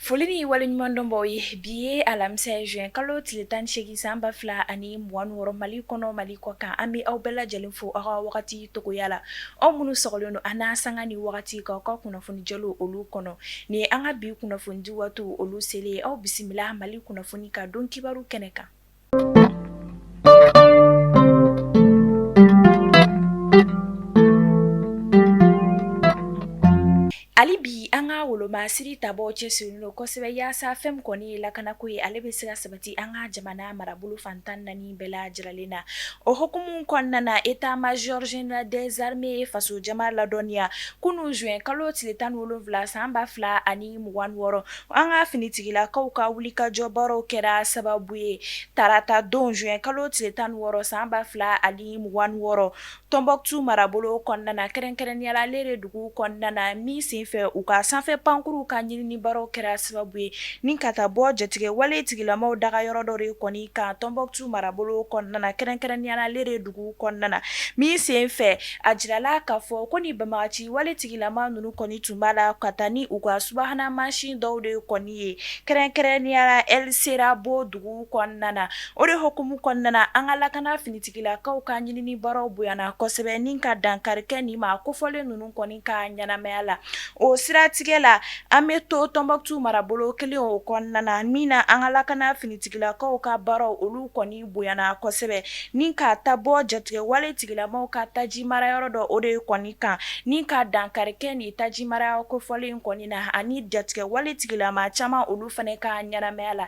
foli ni waleɲuman dɔn b'aw ye bi ye alamisa ye juin kalo tile tan ni seegin san ba fila ani mugan ni wɔɔrɔ mali kɔnɔ mali kɔ kan an bɛ aw bɛɛ lajɛlen fo aw ka wagati togoya la aw minnu sɔgɔlen don an na sanga ni wagati ka ka kunnafoni jɔw olu kɔnɔ ni an ka bi kunnafoni di waati olu seli ye aw bisimila mali kunnafoni ka don kibaru kɛnɛ kan Hali bi an ka woloma siri tabaw cɛsirilen don kosɛbɛ yaasa fɛn min kɔni ye lakanako ye ale bɛ se ka sabati an ka jamana marabolo fan tan ni naani bɛɛ lajɛlen na o hukumu kɔnɔna na état major général des armées ye faso jama ladɔnniya kunun juin kalo tile tan ni wolonwula san ba fila ani mugan ni wɔɔrɔ an ka finitigilakaw ka wulikajɔ baaraw kɛra sababu ye tarata don juin kalo tile tan ni wɔɔrɔ san ba fila ani mugan ni wɔɔrɔ Tombouctou marabolo kɔnɔna kɛrɛnkɛrɛnnenyala Lere dugu kɔnɔna min senfɛ u ka sanfɛ pankurun ka ɲinini baaraw kɛra sababu ye ni ka taa bɔ jatigɛ wale tigilamaw daga yɔrɔ dɔ de kɔni kan Tombouctou marabolo kɔnɔna kɛrɛnkɛrɛnnenyala Lere dugu kɔnɔna na min sen fɛ a jirala k'a fɔ ko nin banbagaci wale tigilama ninnu kɔni tun b'a la ka taa ni u ka subahana mansin dɔw de kɔni ye kɛrɛnkɛrɛnnenyala sera bɔ dugu kɔnɔna na o de hukumu kɔnɔna an ka lakana fini Tigilakaw ka ɲinini baaraw bonyana kosɛbɛ ni ka dankarikɛ nin maa kofɔlen ninnu kɔni ka ɲɛnamaya la o siratigɛ la an bɛ to Tombouctou marabolo kelen o kɔnɔna na min na an ka lakana finitigilakaw ka baaraw olu kɔni bonyana kosɛbɛ ni ka taa bɔ jatigɛ wale tigilamaw ka taji mara yɔrɔ dɔ o de kɔni kan ni ka dankarikɛ nin taji marayɔrɔ kofɔlen in kɔni na ani jatigɛ wale tigilama caman olu fana ka ɲɛnamaya la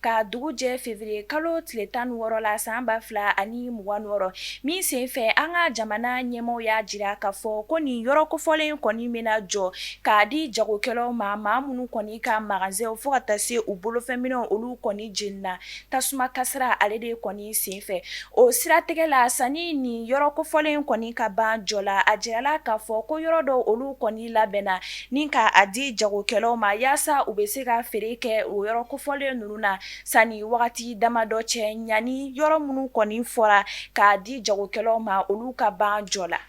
Ka dugu jɛ février kalo tile tan ni wɔɔrɔ la san ba fila ani mugan ni wɔɔrɔ min sen fɛ an ka jamana ɲɛmɔgɔw y'a jira k'a fɔ ko nin yɔrɔ kofɔlen kɔni bɛna jɔ k'a di jagokɛlaw ma maa minnu kɔni ka magazɛnw fo ka taa se u bolofɛn minɛnw olu kɔni jenina tasuma kasaara ale de kɔni sen fɛ o siratigɛ la sani nin yɔrɔ kofɔlen kɔni ka ban jɔ la a jirala k'a fɔ ko yɔrɔ dɔw olu kɔni labɛnna ni ka a di jagokɛlaw ma yaasa u bɛ se ka feere kɛ o yɔrɔ kofɔlen ninnu na sani wagati damadɔ cɛ ɲani yɔrɔ minnu kɔni fɔra k'a di jagokɛlaw ma olu ka ban jɔ la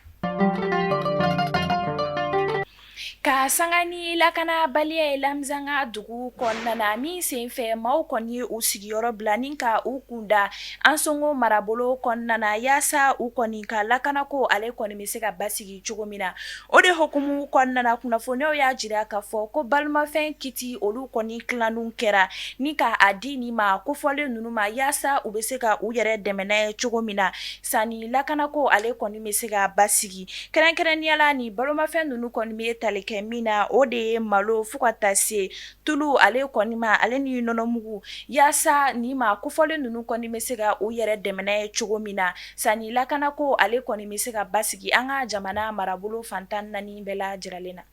ka sanga ni lakanabaliya ye Labezanga dugu kɔnɔna na min senfɛ maaw kɔni ye u sigiyɔrɔ bila ni ka u kunda Ansongo marabolo kɔnɔna na yaasa u kɔni ka lakanako ale kɔni bɛ se ka basigi cogo min na o de hukumu kɔnɔna kunnafoniw y'a jira k'a fɔ ko balomafɛn kiti olu kɔni tilanin kɛra ni k'a di nin maa kofɔlen ninnu ma yaasa u bɛ se ka u yɛrɛ dɛmɛ n'a ye cogo min na sani lakanako ale kɔni bɛ se ka basigi kɛrɛnkɛrɛnninya la ni balomafɛn ninnu kɔni bɛ tali kɛ min na o de ye malo fo ka taa se tulu ale kɔni ma ale ni nɔnɔmugu yaasa nin maa kofɔlen ninnu kɔni bɛ se ka u yɛrɛ dɛmɛ n'a ye cogo min na sani lakanako ale kɔni bɛ se ka basigi an ka jamana marabolo fan tan naani bɛɛ lajɛlen na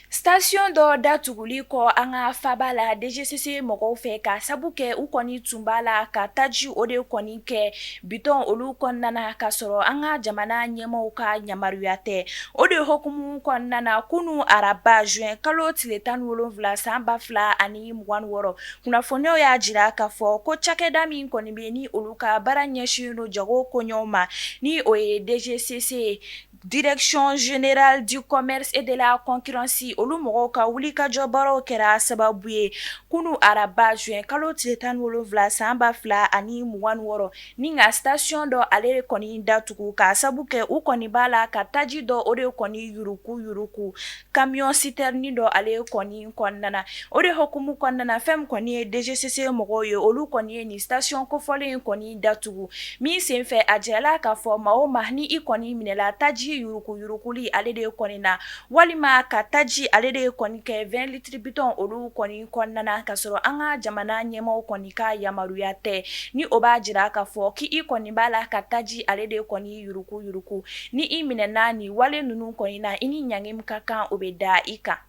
station dɔ datuguli kɔ an ka faba la DGCC mɔgɔw fɛ k'a sabu kɛ u kɔni tun b'a la ka taji o de kɔni kɛ Bitɔn olu kɔnɔna k'a sɔrɔ an ka jamana ɲɛmaaw ka yamaruya tɛ o de hukumu kɔnɔna kunun araba juin kalo tile tan ni wolonwula san ba fila ani mugan ni wɔɔrɔ kunnafoniw y'a jira k'a fɔ ko cakɛda min kɔni bɛ ni olu ka baara ɲɛsin don jago koɲɛw ma ni o ye DGCC ye Direction Générale du Commerce et de la Concurrence olu mɔgɔw ka wulikajɔ baaraw kɛra sababu ye kunun araba juin kalo tile tan ni wolonwula san ba fila ani mugan ni wɔɔrɔ ni ka station dɔ ale kɔni datugu k'a sabu kɛ u kɔni b'a la ka taji dɔ o de kɔni yuruku yuruku kamiyɔn sitɛrni dɔ ale ye kɔni kɔnɔna na o de hukumu kɔnɔna fɛn min kɔni ye DGCC mɔgɔw ye olu kɔni ye nin station kofɔlen in kɔni datugu min senfɛ a jirala k'a fɔ maa o maa ni i kɔni minɛla taji yuruguyuruguli ale de ye kɔni na walima ka taji ale de ye kɔni kɛ vingt litres bitɔn olu kɔni kɔnɔna k'a sɔrɔ an ka jamana ɲɛmaaw kɔni ka yamaruya tɛ ni o b'a jira k'a fɔ k' i kɔni b'a la ka taji ale de kɔni yuruku yuruku ni i minɛna ni wale ninnu kɔni na i ni ɲangi min ka kan o bɛ da i kan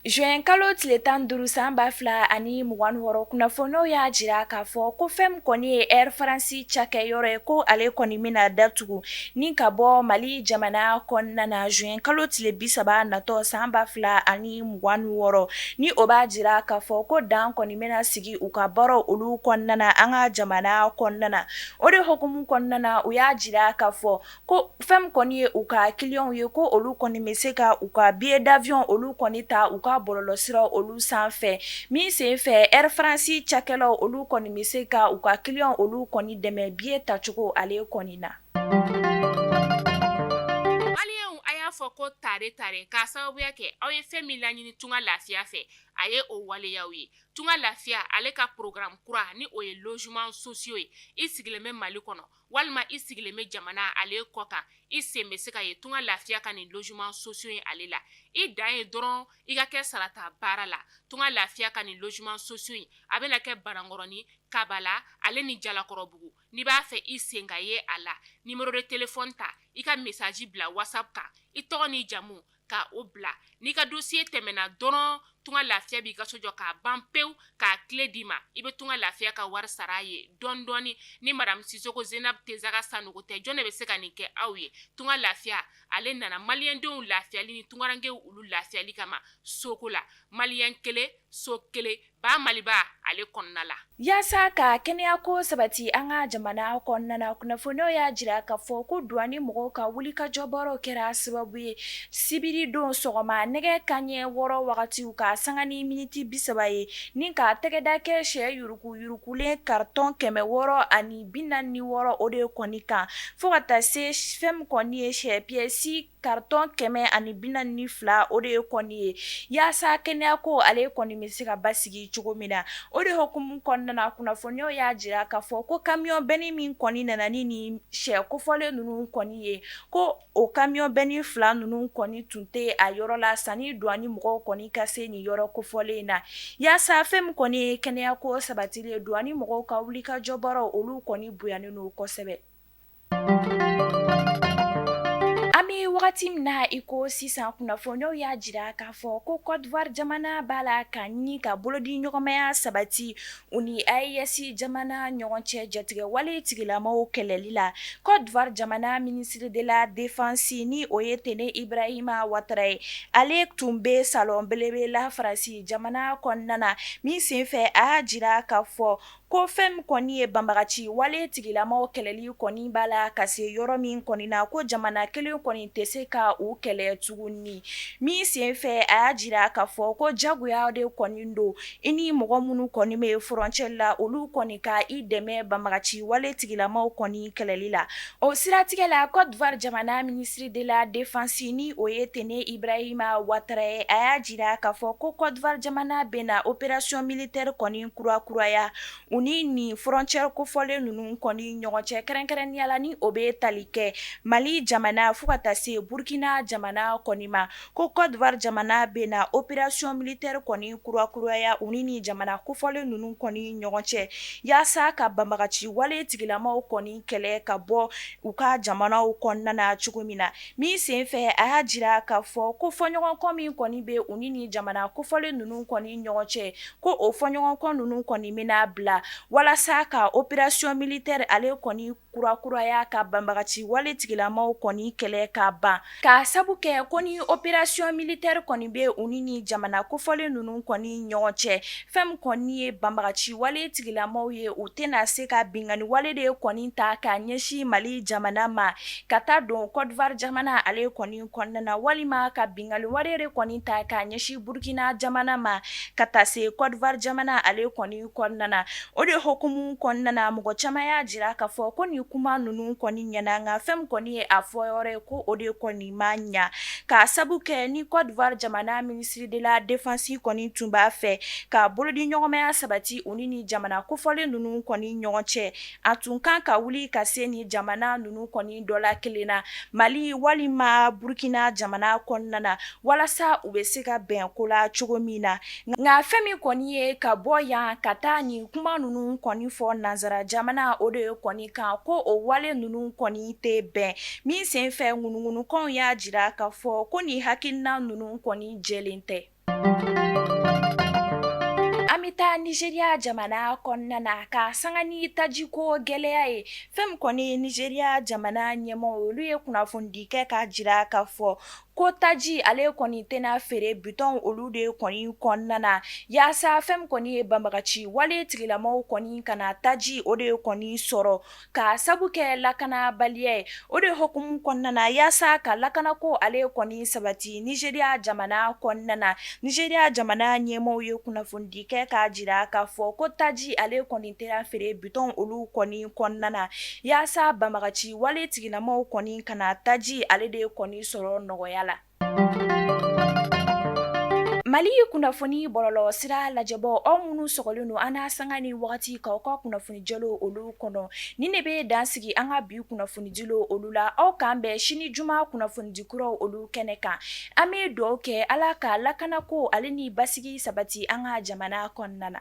juin kalo tile tan duuru san ba fila ani mugan ni wɔɔrɔ kunnafoniw y'a jira k'a fɔ ko fɛn min kɔni ye Air France cakɛyɔrɔ ye ko ale kɔni bɛna datugu ni ka bɔ mali jamana kɔnɔna na juin kalo tile bi saba natɔ san ba fila ani mugan ni wɔɔrɔ ni o b'a jira k'a fɔ ko dan kɔni bɛna sigi u ka baaraw olu kɔnɔna an ka jamana kɔnɔna o de hukumu kɔnɔna u y'a jira k'a fɔ ko fɛn min kɔni ye u ka kiliyanw ye ko olu kɔni bɛ se ka u ka billet d'avion olu kɔni ta u ka bɔlɔlɔsira olu sanfɛ min sen fɛ Air France cakɛlaw olu kɔni bɛ se ka u ka kiliyanw olu kɔni dɛmɛ billet tacogo ale kɔni na hali a y'a fɔ ko tare tare k'a sababuya kɛ aw ye fɛn min laɲini tunga lafiya fɛ a ye o waleya ye tunga lafiya ale ka programme kura ni o ye logement sociaux ye i sigilen bɛ mali kɔnɔ walima i sigilen bɛ jamana ale kɔ kan i sen bɛ se ka ye tunga lafiya ka nin logement sociaux ye ale la i dan ye dɔrɔn i ka kɛ sarata baara la tunga lafiya ka nin logement sociaux in a bɛna kɛ banankɔrɔnin kabala ale ni jalakɔrɔbugu n'i b'a fɛ i sen ka ye a la numéro de téléphone ta i ka message bila whatsapp kan i tɔgɔ ni jamu ka o bila n'i ka dossier tɛmɛna dɔrɔn tunga lafiya b'i ka so jɔ k'a ban pewu k'a clé d'i ma i bɛ tunga lafiya ka wari sara a ye dɔɔni dɔɔni ni madamu sisoko zenabu tesaga sanogo tɛ jɔn de bɛ se ka nin kɛ aw ye tunga lafiya ale nana maliyɛndenw lafiyali ni tungarankɛw olu lafiyali kama soko la maliyɛn kelen so kelen ba maliba ale kɔnɔna la yaasa ka kɛnɛya ko sabati an ka jamana kɔnɔna na kunnafoniw y'a jira k'a fɔ ko duwani mɔgɔw ka wulikajɔ baaraw kɛra sababu ye sibiri don sɔgɔma nɛgɛ kanɲɛ wɔɔrɔ wagatiw ka sanga ni miniti bi saba ye ni ka tɛgɛda kɛ sɛ yuruguyurugulen karitɔn kɛmɛ wɔɔrɔ ani bi naani ni wɔɔrɔ o de kɔni kan fo ka taa se fɛn kɔni ye sɛ piyɛsi Karitɔn kɛmɛ ani bi naani ni fila o de ye kɔni ye yaasa kɛnɛya ko ale kɔni bɛ se ka basigi cogo min na o de hukumu kɔnɔna kunnafoniw y'a jira k'a fɔ ko kamiyɔn bɛni min kɔni nana ni nin sɛ kofɔlen ninnu kɔni ye ko o kamiyɔn bɛni fila ninnu kɔni tun tɛ a yɔrɔ la sani duwani mɔgɔw kɔni ka se nin yɔrɔ kofɔlen in na yaasa fɛn min kɔni ye kɛnɛya ko sabatili ye duwani mɔgɔw ka wulikajɔ baaraw olu kɔni bonyanen don kosɛbɛ wagati min na i ko sisan kunnafoniw y'a jira k'a fɔ ko kɔdiwari jamana b'a la ka ɲini ka bolodi ɲɔgɔnmaya sabati u ni AES jamana ɲɔgɔn cɛ jatigɛ wale tigilamaw kɛlɛli la kɔdiwari jamana ministre de la défense ni o ye tene ibrahima watara ye ale tun bɛ salɔn belebele la faransi jamana kɔnɔna na min senfɛ a y'a jira k'a fɔ Ko fɛn min kɔni ye banbagaci wale tigilamaw kɛlɛli kɔni b'a la ka se yɔrɔ min kɔni na ko jamana kelen kɔni tɛ se ka u kɛlɛ tuguni min sen fɛ a y'a jira k'a fɔ ko jagoya de kɔni don i ni mɔgɔ minnu kɔni bɛ frontière la olu kɔni ka i dɛmɛ banbagaci wale tigilamaw kɔni kɛlɛli la o siratigɛ la kɔdiwari jamana ministre de la défense ni o ye tene ibrahima watara ye a y'a jira k'a fɔ ko kɔdiwari jamana bɛna opération militaire kɔni kurakuraya u ni nin frontière kofɔlen ninnu kɔni ɲɔgɔn cɛ kɛrɛnkɛrɛnnenya la ni o bɛ tali kɛ mali jamana fo ka taa se burukina jamana kɔni ma ko kɔdiwari jamana bɛna opération militaire kɔni kurakuraya u ni jamana kofɔlen ninnu kɔni ɲɔgɔn cɛ yaasa ka banbagaci wale tigilamaw kɔni kɛlɛ ka bɔ u ka jamanaw kɔnɔna cogo min na min senfɛ a y'a jira k'a fɔ ko fɔɲɔgɔnkɔ min kɔni bɛ u ni jamana kofɔlen ninnu kɔni ɲɔgɔn cɛ ko o fɔɲɔgɔnkɔ ninnu kɔni bɛna bila walasa ka opération militaire ale kɔni kurakuraya ka banbagaci wale tigilamaw kɔni kɛlɛ ka ban k'a sabu kɛ ko ni opération militaire kɔni bɛ u ni nin jamana kofɔlen ninnu kɔni ɲɔgɔn cɛ fɛn min kɔni ye banbagaci wale tigilamaw ye u tɛna se ka binkanni wale de kɔni ta ka ɲɛsin mali jamana ma ka taa don kɔdiwari jamana ale kɔni kɔnɔna walima ka binkanni wale de kɔni ta k'a ɲɛsin burukina jamana ma ka taa se kɔdiwari jamana ale kɔni kɔnɔna na o de hukumu kɔnɔna mɔgɔ caman y'a jira k'a fɔ ko nin kuma ninnu kɔni ɲɛna nka fɛn min kɔni ye a fɔ yɔrɔ ye ko o de kɔni ma ɲɛ k'a sabu kɛ ni kɔdiwari jamana ministre de la défense kɔni tun b'a fɛ ka bolodiɲɔgɔnmaya sabati u ni nin jamana kofɔlen ninnu kɔni ɲɔgɔn cɛ a tun kan ka wuli ka se nin jamana ninnu kɔni dɔ la kelen na mali walima burukina jamana kɔnɔna na walasa u bɛ se ka bɛn ko la cogo min na nka fɛn min kɔni ye ka bɔ yan ka taa nin kuma ninnu kɔni fɔ nansara jamana o de ye kɔni kan ko o wale ninnu kɔni tɛ bɛn min senfɛ ŋunuŋunukanw y'a jira k'a fɔ ko nin hakilina ninnu kɔni jɛlen tɛ An bɛ taa nizeriya jamana kɔnɔna na ka sanga ni taji ko gɛlɛya ye fɛn min kɔni ye nizeriya jamana ɲɛmɔgɔ olu ye kunnafonidi kɛ k'a jira k'a fɔ ko taji ale kɔni tɛna feere bitɔn olu de kɔni kɔnɔna na yaasa fɛn min kɔni ye banbagaci wale tigilamaw kɔni kana taji o de kɔni sɔrɔ K'a sabu kɛ lakanabaliya ye o de hukumu kɔnɔna na yaasa ka lakana ko ale kɔni sabati nizeriya jamana kɔnɔna na nizeriya jamana ɲɛmɔgɔw ye kunnafonidi kɛ k'a jira k'a fɔ ko taji ale kɔni tɛna feere bitɔn olu kɔni kɔnɔna na yaasa banbagaci wale tigilamaw kɔni kana taji ale de kɔni sɔrɔ nɔgɔya la Mali kunnafoni bɔlɔlɔ sira lajɛbaaw aw minnu sɔgɔlen don an na sanga ni waati k'aw ka kunnafoni jɛlen olu kɔnɔ ni ne bɛ dan sigi an ka bi kunnafoni dilen olu la aw k'an bɛn sini juma kunnafonidi kuraw olu kɛnɛ kan an bɛ dugawu kɛ ala ka lakana ko ale ni basigi sabati an ka jamana kɔnɔna na